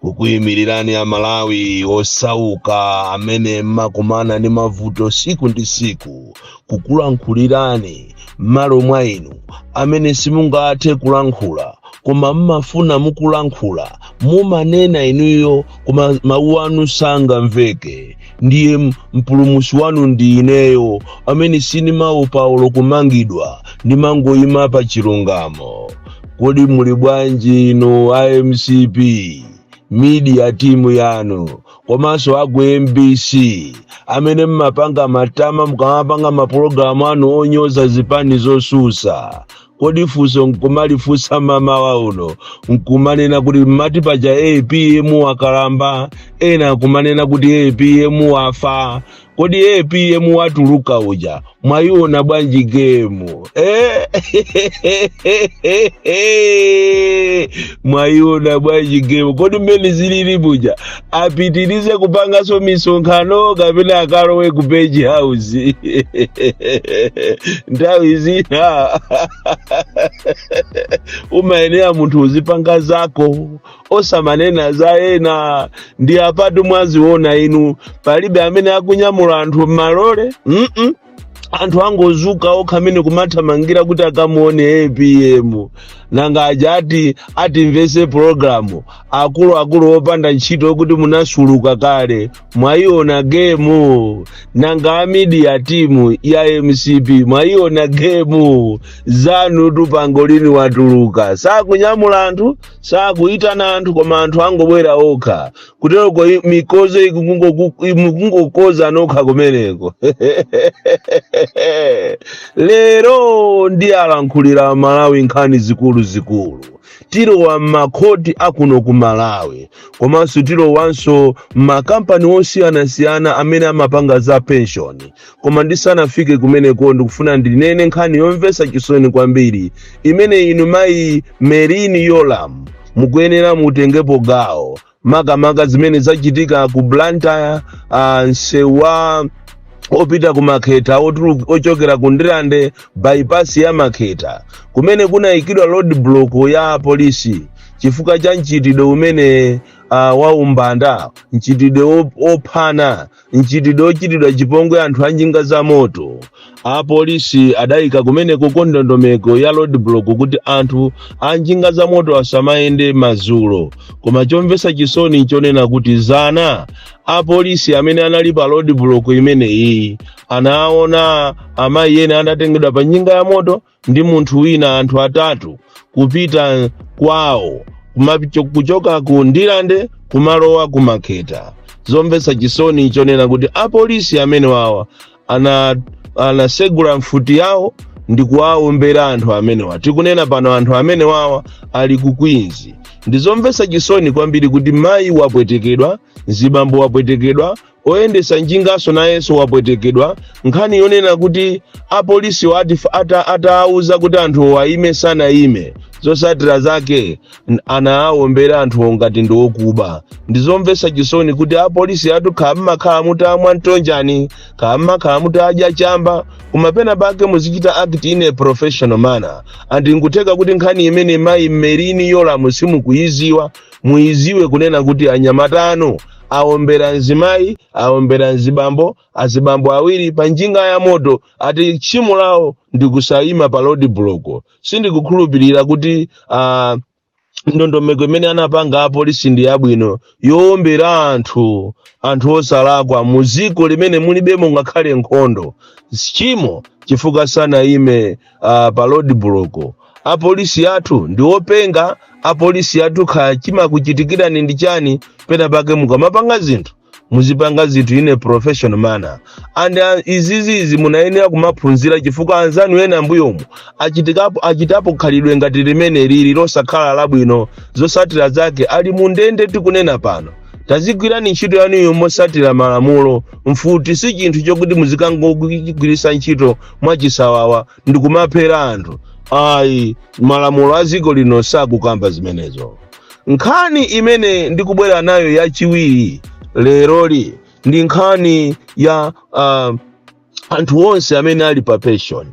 kukuyimirirani amalawi osauka amene mmakumana ndi mavuto tsiku ndi tsiku kukulankhulirani m'malo mwa inu amene simungathe kulankhula koma mmafuna mukulankhula mumanena inuyo koma mawu anu sangamveke ndiye m- mpulumusi wanu ndi ineyo amene sinimawopa olo kumangidwa ndimangoyima pa chilungamo kodi muli bwanji inu a mcp media timu yanu komanso aku mbc amene mmapanga matama mukamapanga mapulogalamu anu onyoza zipani zosusa kodi funso nkumalifunsa mmamawa uno nkumanena kuti mmati paja apm wakalamba ena nkumanena kuti apm wafa kodi apm watuluka uja mwayiona bwanji gemu eh? mwayiona bwanji gemu kodi mmene zilili buja apitirize kupanganso misonkhano kapena akalowe ku page house nthawi zina umayenera munthu uzipanga zako osamanena za ena nde apatu mwaziona inu palibe amene akunyamula anthu m'malole mm -mm. anthu angozuka okha amene kumathamangira kuti akamuone apm nanga aja ati atimvese pologalamu akuluakulu opanda ntchito kuti munasukuluka kale mwayiona gemu nanga amidiya timu ya mcp mwayiona gemu zanutu pangolini watuluka sakunyamula anthu sakuyitana anthu koma anthu angobwera okha kuteroko mikozo ikungoku- imukungokoza nokha kumeneko lero ndiwalankhulira amalawi nkhani zikuluzikulu tilowa m'makhoti akuno ku malawi komanso tilowanso m'makampani osiyanasiyana amene amapanga za penshoni Koma ndisanafike kumeneko, ndikufuna ndinene nkhani yomvetsa chisoni kwambiri imene inu mayi Merlyn Yolamu mukuyenera mutengepo gawo, makamaka zimene zachitika ku Blantyre, ah, msewu wopita ku makhetha otulu- ochokera ku ndirande bypass ya makhetha kumene kunayikidwa road block ya polisi chifukwa cha mchitidwe umene uh, wa umbanda mchitidwe wo- wophana mchitidwe ochitidwa chipongwe anthu a njinga za moto apolisi adayika kumeneku ndondomeko ya roadblock kuti anthu a njinga za moto asamayende madzulo koma chomvetsa chisoni nchonena kuti zana apolisi amene anali pa roadblock imeneyi anaona amayi ena adatengedwa pa njinga ya moto ndi munthu wina anthu atatu kupita kwawo kumapicho- kuchoka ku ndirande kumalowa ku makhetha zomvetsa chisoni chonena kuti apolisi amene wawa ana anasegula mfuti yawo ndi kuwaombera anthu amenewa tikunena pano anthu amene wawa ali ku Queens ndi zomvetsa chisoni kwambiri kuti mayi wapwetekedwa mzibambo wapwetekedwa Oyendetsa njinganso nayenso wapwetekedwa. Nkhani yonena kuti apolisiwo ati ata atawauza kuti anthuwo aime sanaime, zotsatira zake n- anawawombera anthuwo ngati ndi okuba. Ndi zomvetsa chisoni kuti apolisi athu kaya mmakhala mutamwa mtonjani, kaya mmakhala mutadya chamba, koma pena pake muzichita act in a professional manner. And nkutheka kuti nkhani imene mayi Merlyne Yolamu simukuyidziwa, muyidziwe kunena kuti anyamata anu aombera mzimayi aombera mzibambo azibambo awiri pa njinga ya moto ati tchimo lawo ndi kusayima pa road block sindikukhulupirira kuti uh, ndondomeko imene anapanga apolisi ndi yabwino yoombera anthu anthu osalakwa mu dziko limene mulibemo ngakhale nkhondo tchimo chifukwa sanayime uh, pa road block apolisi athu ndi openga apolisi athu kha chimakuchitikirani ndi chani pena pake mukamapanga zinthu muzipanga zinthu in a professional manner and uh, izizizi munayenera kumaphunzira chifukwa anzanu ena mbuyomu achitikapo achitapo khalidwe ngati limene lili losakhala labwino zosatira zake ali mu ndende tikunena pano tazigwirani ntchito yanuyo mosatira malamulo mfuti si chinthu chokuti muzikangogwiritsa ntchito mwachisawawa ndi kumaphera anthu ayi malamulo a dziko lino sakukamba zimenezo nkhani imene ndikubwera nayo yachiwiri leroli ndi nkhani ya uh, anthu onse amene ali pa pension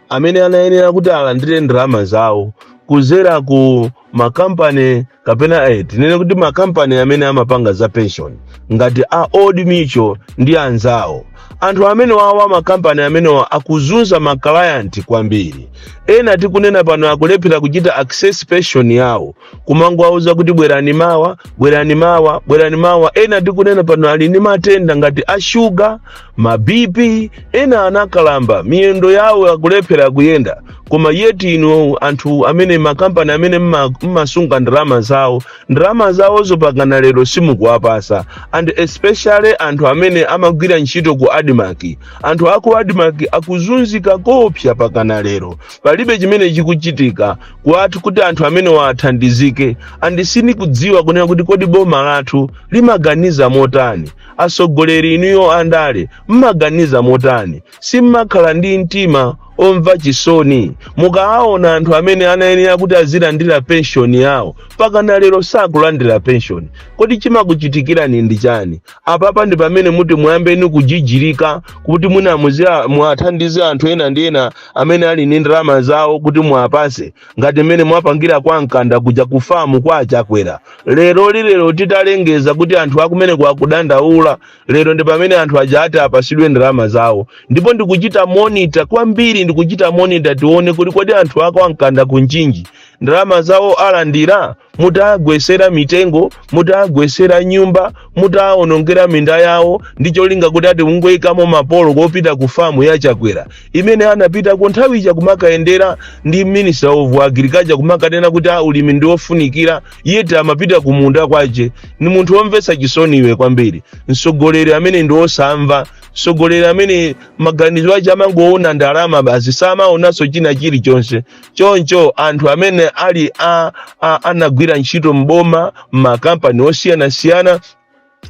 amene anayenera kuti alandire ndalama zawo kuzera ku makampani kapena eh, tinene kuti makampani amene amapanga za pension ngati a old mutual ndi anzawo anthu amene wawa makampani amenewa akuzunza makalayanti kwambiri ena tikunena pano akulephera kuchita access pension yawo kumangowauza kuti bwerani mawa bwerani mawa bwerani mawa ena tikunena pano ali ndi matenda ngati a shuga ma bp ena anakalamba miyendo yawo akulephera kuyenda koma yet inu anthu amene makampani amene mma- mmasunga ndalama zawo ndalama zawozo pakana lero simukuwapasa and especially anthu amene amagwira ntchito ku admarc anthu aku admarc akuzunzika koopsa pakana lero palibe chimene chikuchitika kuwathu kuti anthu amenewa athandizike and sindikudziwa kunena kuti kodi boma lathu limaganiza motani Atsogoleri inuyo andale mmaganiza motani? Simmakhala ndi mtima omva chisoni? Mukaaona anthu amene anayenera kuti azilandira penshoni yawo pakana lero sakulandira penshoni, kodi chimakuchitikirani ndi chani? Apapa ndi pamene muti muyambeni kujijirika kuti mwina muzia- muwathandize anthu ena ndi ena amene ali ndi ndalama zawo kuti muwapase ngati mmene mwapangira kwa mkanda kuja kufamu kwa a Chakwera lerolilero titalengeza kuti anthu akumeneko akudandaula lero ndi pamene anthu aja ati apasidwe ndalama zawo ndipo ndikuchita monita kwambiri ndikuchita monita tione kuti kodi anthu a kwa Mkanda ku Mchinji ndalama zawo alandira mutawagwesera mitengo mutawagwesera nyumba mutawaonongera minda yawo ndi cholinga kuti ati mungoyikamo mapolo kopita ku famu ya chakwera imene anapitako nthawi ija kumakayendera ndi minister of agriculture kumakanena kuti a ulimi ndi wofunikira yeti amapita ku munda kwache ni munthu womvetsa chisoni iwe kwambiri mtsogoleri amene ndi wosamva mtsogoleri amene maganizo ache amangoona ndalama basi samaonanso china chilichonse choncho anthu amene ali a, a, anagwira ntchito mboma m'makampani osiyanasiyana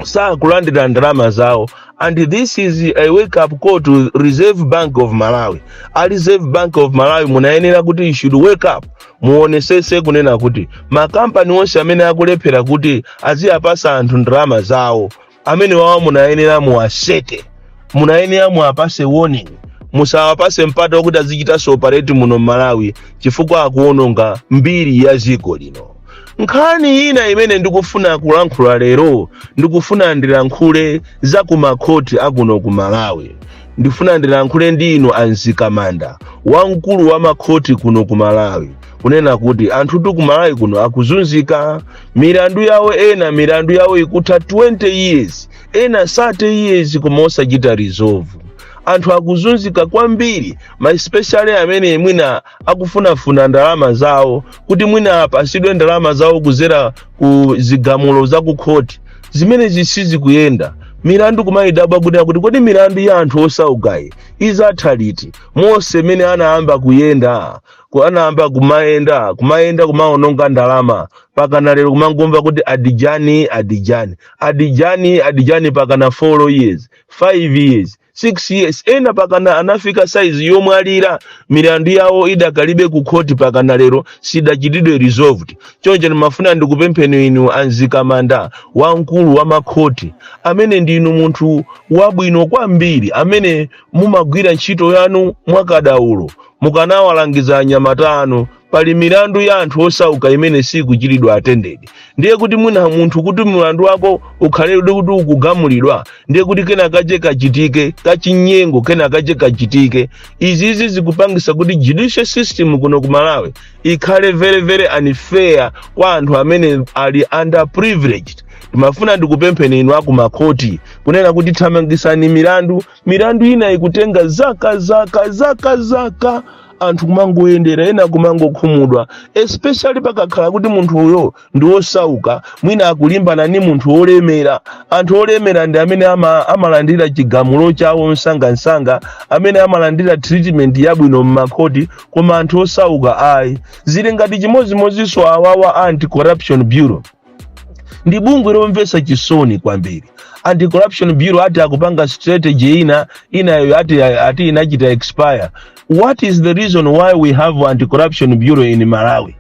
sakulandira ndalama zawo and this is a wake up call to reserve bank of malawi a reserve bank of malawi munayenera kuti you should wake up muonesese kunena kuti makampani onse amene akulephera kuti aziwapasa anthu ndalama zawo amenewawa munayenera muwaseke munayenera muwapase warning musawapase mpata wokuti azichitanso operate muno mmalawi chifukwa akuononga mbiri ya dziko lino nkhani ina imene ndikufuna kulankhula lero ndikufuna ndilankhule za kumakhoti akuno ku malawi ndifuna ndilankhule ndi inu a Mzikamanda wamkulu wa makhoti kuno ku malawi kunena kuti anthutu ku malawi kuno akuzunzika milandu yawo ena milandu yawo ikutha 20 years ena 30 years koma osachita resolve anthu akuzunzika kwambiri ma especially amene mwina akufunafuna ndalama zawo kuti mwina apasidwe ndalama zawo kuzera ku zigamulo za ku khoti zimenezi sizikuyenda milandu kumayidabwa kunena kuti kodi milandu ya anthu osaukayi izatha liti monse mmene anayamba kuyenda ku- anayamba kumayenda kumayenda kumaononga ndalama pakana lero kumangomva kuti adjourn adjourn adjourn adjourn pakana 4 years 5 years 6 years ena pakana anafika saizi yomwalira milandu yawo idakalibe ku khoti pakana lero sidachitidwe resolved choncho ndimafuna ndikupempheni inu a Mzikamanda wamkulu wa makhoti amene ndinu munthu wabwino kwambiri amene mumagwira ntchito yanu mwakadaulo mukanawalangiza anyamata anu pali milandu ya anthu osauka imene sikuchitidwa attended ndiye kuti mwina munthu kuti mlandu wako ukhale kuti ukugamulidwa ndiye kuti kena kache kachitike kachinyengo kena kache kachitike izizi zikupangisa kuti judicial system kuno ku malawi ikhale very very unfair kwa anthu amene ali underprivileged timafuna ndikupempheni inu akumakhoti kunena kuti thamangisani milandu milandu ina ikutenga zaka zaka zaka zaka anthu kumangoyendera ena kumangokhumudwa especially pakakhala kuti munthu uyo ndi wosauka mwina akulimbana ndi munthu wolemera anthu olemera ndi amene ama, amalandira chigamulo chawo msangamsanga amene amalandira treatment yabwino m'makhoti koma anthu osauka ayi zili ngati chimodzimodzinso awawa anti corruption bureau ndi bungwe lomvetsa chisoni kwambiri anti corruption bureau ati akupanga strategy inayo ati, ati inachita expire what is the reason why we have anti corruption bureau in malawi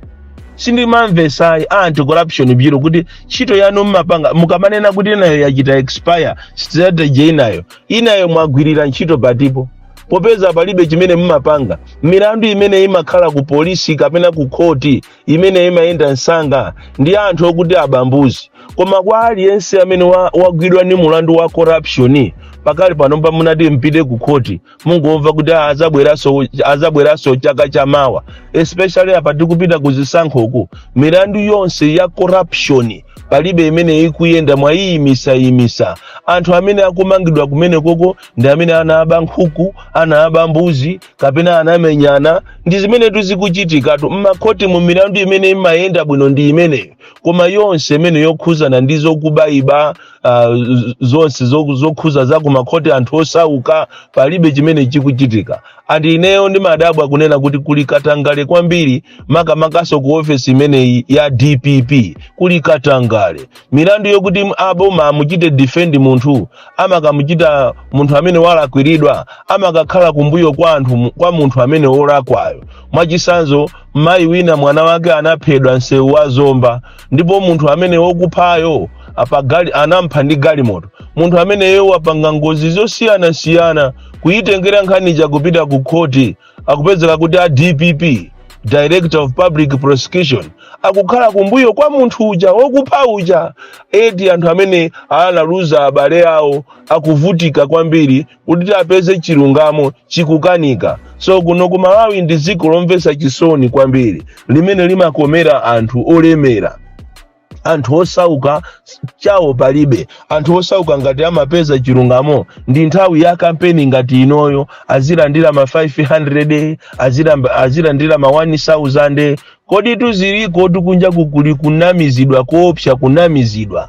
sindimamvesa ayi a anti corruption bureau kuti ntchito yanu mmapanga mukamanena kuti inayo yachita expire strategy inayo inayo mwagwirira ntchito patipo popeza palibe chimene mmapanga milandu imene imakhala ku polisi kapena ku khoti imene imayenda msanga ndi anthu okuti aba mbuzi koma kwa aliyense amene wa- wagwidwa ndi mulandu wa corruption pakali pano pano munati mpite ku khoti mungomva kuti "Ah, azabweranso azabweranso chaka cha mawa especially apa tikupita ku zisankho uku milandu yonse ya corruption palibe imene ikuyenda mwayimisayimisa anthu amene akumangidwa kumene koko ndi amene anaba nkhuku anaba mbuzi kapena anamenyana ndi zimenetu zikuchitikatu mmakhotimu milandu imene imayenda bwino ndi imeneyo koma yonse imene yokhuzana ndi zokubayiba uh, zonse zo- zokhuza za kumakhoti anthu osauka palibe chimene chikuchitika and ineyo ndimadabwa kunena kuti kuli katangale kwambiri makamakaso ku ofesi imeneyi ya dpp kuli katangale milandu yokuti aboma amuchite defend munthu amakamuchita munthu amene walakwiridwa amakakhala kumbuyo kwa anthu kwa munthu amene wolakwayo mwachisanzo mayi wina mwana wake anaphedwa msewu wa zomba ndipo munthu amene wokuphayo anampha ndi galimoto munthu ameneyo wapanga ngozi zosiyanasiyana kuyitengera nkhani ija kupita ku khoti akupezeka kuti a dpp director of public prosecution akukhala kumbuyo kwa munthu uja wokupha uja eti anthu amene analuza abale awo akuvutika kwambiri kuti apeze chilungamo chikukanika so kuno ku malawi ndi dziko lomvetsa chisoni kwambiri limene limakomera anthu olemera anthu osauka s- chawo palibe anthu osauka ngati amapeza chilungamo ndi nthawi ya kampeni ngati inoyo azilandira ma 500 azilamba- azilandira ma 1000 kodi tudziliko tukunja kukuli kunamizidwa koopsa kunamizidwa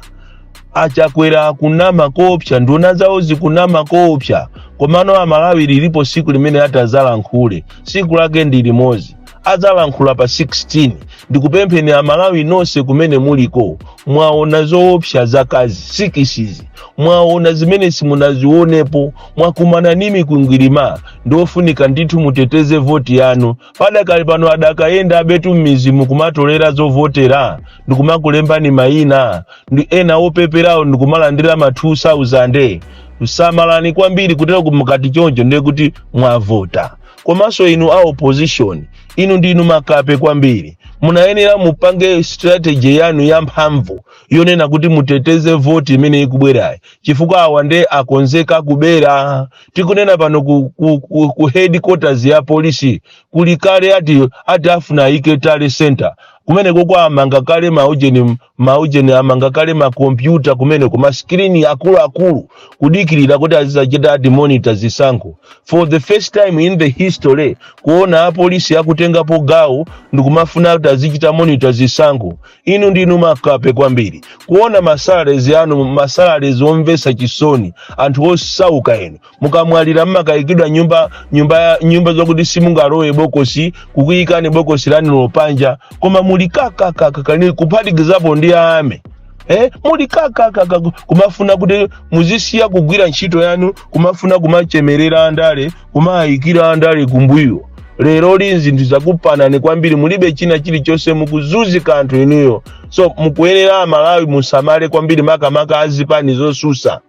achakwera akunama koopsa nduna zawo zikunama koopsa komano amalawi lilipo siku limene atazalankhule siku lake ndi limodzi adzalankhula pa 16 ndikupempheni amalawi nonse kumene muliko mwaona zoopsa zaka sikisizi mwaona zimene simunazionepo mwakumana ni mikwingwirima ndiofunika ndithu muteteze voti yanu padakali pano adakayenda abetu m'mizimu kumatolera zovotera ndikumakulembani mayina ndi ena opeperawo ndikumalandira ma 2000 samalani kwambiri kutero kumukati choncho ndiye kuti mwavota komanso inu a opposition inu ndinu makape kwambiri munayenera mupange strategy yanu yamphamvu yonena kuti muteteze voti imene ikubwerayi chifukwa awa nde akonzeka kubera tikunena pano ku, ku, ku, ku headquarters ya polisi kuli kale ati ati afuna ayike tally center kumeneko amanga kale maujeni Ma ujeni amanga kale ma kompyuta kumeneko ma screen akuluakulu kudikirira kuti azizachita ati monitor zisankho. For the first time in the history kuona apolisi akutengapo gawo ndikumafuna kuti azichita monitor zisankho. Inu ndinu makape kwambiri. Kuona masalaries anu masalaries omvesa chisoni anthu osauka inu mukamwalira mmakayikidwa nyumba nyumba nyumba zokuti simungalowe bokosi kukuyikani bokosi lani lopanja koma muli kakakakakani kuphatikizapo ndi ame eh muli kakakaka kumafuna kuti muzisiya kugwira ntchito yanu kumafuna kumachemerera andale kumayikira andale kumbuyo lero li zinthu zakupanani kwambiri mulibe china chilichonse mukuzuzika anthu inuyo so mukuyenera amalawi musamale kwambiri makamaka azipani zosusa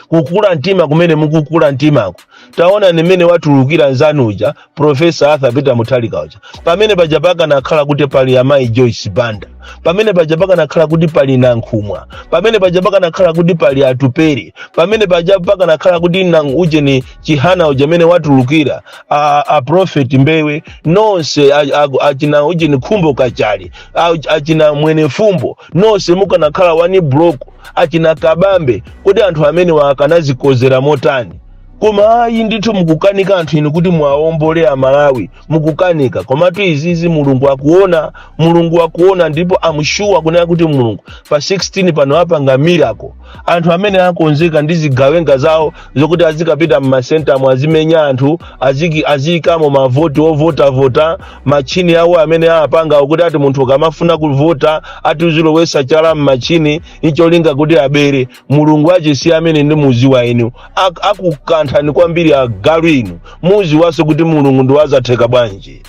kukula mtima kumene mukukula mtimako taonani mmene watulukira nzanu uja profesa arthur peter muthalika uja pamene paja pakanakhala kuti pali amayi joyce banda pamene paja pakanakhala kuti pali nankhumwa pamene paja pakanakhala kuti pali atupere pamene paja pakanakhala kuti nang ujeni chihana uja mmene watulukira a, a prophet mbewe nonse a- a- achina ujeni khumbo kachali a- achina mwenefumbo nonse mukanakhala one block achina kabambe kodi anthu amenewa akanazikozera motani koma ayi ndithu mukukanika anthu inu kuti muwaombole amalawi mukukanika komatu izizi mulungu akuona mulungu akuona ndipo am sure kunena kuti mulungu pa 16 pano apanga miracle anthu amene akonzeka ndi zigawenga zawo zokuti azikapita mmasentamo azimenya anthu aziki- aziyikamo mavoti ovotavota machini awo amene apanga kuti ati munthu ukamafuna kuvota ati uzilowetsa chala mmachini icholinga kuti abere mulungu achisi amene ndi muziwa inu Ak- akukanthani kwambiri agalu inu muziwaso kuti mulungu ndi wazatheka bwanji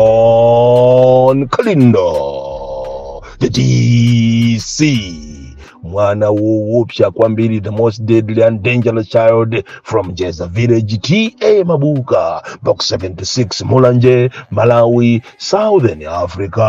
bon kalindo the dc mwana woopsa kwambiri the most deadly and dangerous child from jeza village ta mabuka box 76 mulanje malawi southern africa